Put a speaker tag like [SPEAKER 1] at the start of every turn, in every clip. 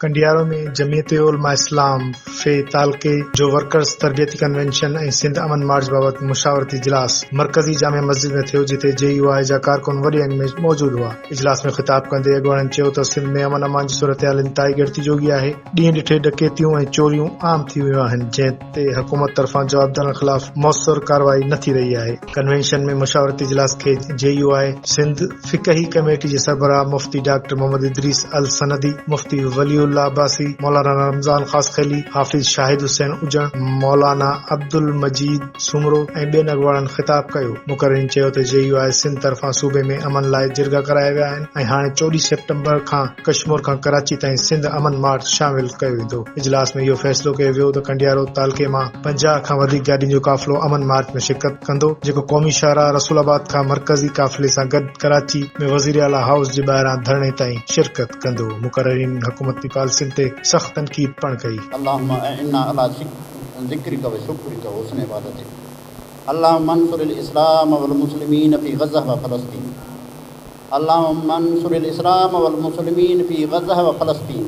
[SPEAKER 1] Kandiaro ۾ Jamiat Ulema Islam F تعلقي جو workers تربيتي ڪنوينشن ۽ سنڌ امن مارچ بابت مشاورتي اجلاس مرڪزي جامع مسجد ۾ ٿيو جتي جي يو آء جا ڪارڪن وڏي انگ ۾ موجود هئا. اجلاس ۾ خطاب ڪندي اڳواڻن چيو ته سنڌ ۾ امن امان جي صورتحال انتهائي ڳڻتي جوڳي آهي، ڏينهن ڏٺي ڏڪيتيون ۽ چوريون عام ٿي ويون آهن جنهن تي حڪومت طرفان جوابدارن خلاف موثر ڪارروائي نه ٿي رهي آهي، ڪنوينشن ۾ مشاورتي اجلاس کي جي يو آء سنڌ فقهي ڪميٽي جي سربراهه مفتي ڊاڪٽر محمد ادريس السندي، مفتي ولي الله عباسي، مولانا رمضان خاصخيلي، حافظ شاهد حسين اجڻ، مولانا عبدالمجيد سومرو ۽ ٻين اڳواڻن خطاب ڪيو، مقررين چيو ته جي يو آء سنڌ طرفان صوبي ۾ امن لاء جرڳا ڪرايا ويا آهن ۽ هاڻي چوڏهين سيپٽمبر کان ڪشمور کان ڪراچي تائين سنڌ امن مارچ شامل ڪيو ويندو. اجلاس ۾ اهو فيصلو ڪيو ويو ته ڪنڊيا روڊ تعلقي مان پنجاهه کان وڌيڪ گاڏين جو قافلو امن مارچ ۾ شرڪت ڪندو جيڪو قومي شاهراهه رسول آباد کان مرڪزي قافلي سان گڏ ڪراچي ۾ وزير اعليٰ هائوس جي ٻاهران ڌرڻي تائين شرڪت ڪندو مقررين حڪومتي پالسين تي سخت تنقيد پڻ ڪئي. اللهم اعنا
[SPEAKER 2] علی ذکرک و شکرک و حسن عبادتک اللهم انصر الاسلام و المسلمین فی غزہ و فلسطین اللهم انصر الاسلام و المسلمین فی غزہ و فلسطین.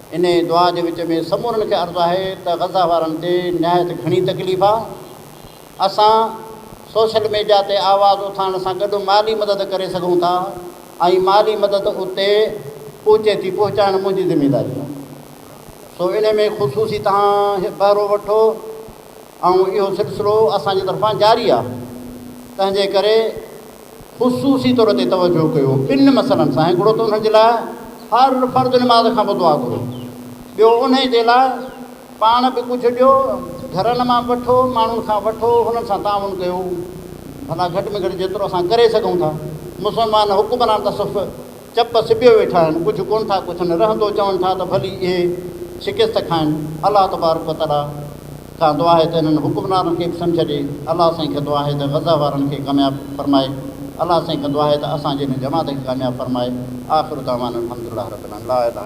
[SPEAKER 2] انهيء دعا جي وچ ۾ سمورن کي عرض آهي ته غزه وارن تي نهايت گهڻي تڪليف آ، اسان سوشل ميڊيا تي آواز اٿارڻ سان گڏ مالي مدد ڪري سگهون ٿا ۽ مالي مدد اتي پهچي ٿي پهچائڻ منهنجي ذميداري آ سو انهي ۾ خصوصي توهان بهرو وٺو ۽ اهو سلسلو اسان جي طرفان جاري آهي تنهن جي ڪري خصوصي طور تي توجه ڪيو ٻن مسئلن سان هڪڙو ته انهن جي لاء هر فرض نماز کان پوء دعا گهرو ٻيو انهي جي لاء پاڻ به ڪجهه ڏيو گهرن مان وٺو ماڻهن کان وٺو هنن سان تعاون ڪيو ڀلا گهٽ ۾ گهٽ جيترو اسان ڪري سگهون ٿا مسلمان حڪمران ته صف چپ سٻيو ويٺا آهن، ڪجهه ڪونه ٿا پڇن، رهندو چون ٿا ته ڀلي اهي شڪست کائن، الله تبارڪ و تعاليٰ کان دعا آهي ته انهن حڪمرانن کي به سمجهه ڏي، الله سائين کان دعا آهي ته غزه وارن کي ڪامياب فرمائي، الله سائين کان دعا آهي ته اسان جي هن جماعت کي ڪامياب فرمائي، آخر دعوانا الحمدلله رب العالمين.